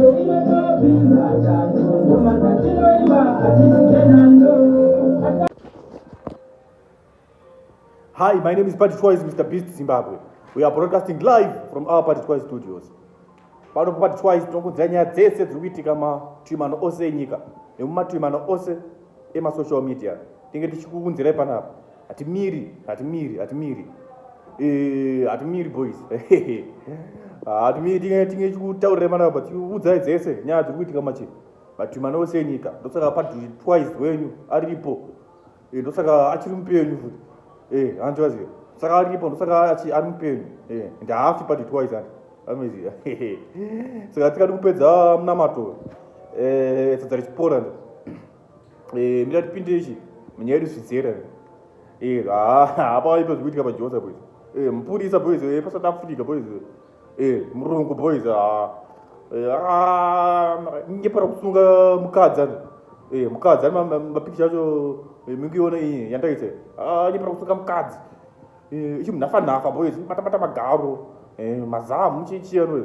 Hi, my name is Patty Twice, Mr. Beast Zimbabwe. We are broadcasting live from our Patty Twice studios. Pano Patty Twice tinokudzira nyaya dzese dziri kuitika matuimano ose enyika nemumatuimano ose emasocial media. Tinge tichikuunzirai panapa. Hatimiri, hatimiri, hatimiri. Eh, hatimiri boys. Hatimiri tinge tinge chikutaurira mana but udzai dzese nyaya dziri kuitika machi. But mana ose nyika. Ndosaka padri twice wenyu aripo. Eh, ndosaka achiri mupenyu futi. Eh, hanzi wazi. Saka aripo ndosaka achi ari mupenyu. Eh, and hafi padri twice and. Amazing. Saka tikadi kupedza munamato. Eh, sadza richipora ndo. eh mira tipinde ichi munyaya yedu zvidzera eh ha apa ipo zvikuitika pajosa boys eh mupurisa boys eh pa south africa boys eh murungu boys ha eh ah nge para kusunga mukadza eh mukadza ma ma picture acho eh, mingi yona iyi yandaise ah nge para kusunga mukadzi eh ichi mnafa nafa boys mata mata magaro eh mazamu chichi yano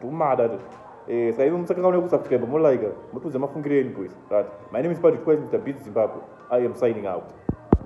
Tumada tu. Eh, saka iwe musakanganwe kusubscribe mo like mutiudze mafungiro enyu boys. Right. My name is Patrick Kwesi Mr Beats Zimbabwe. I am signing out.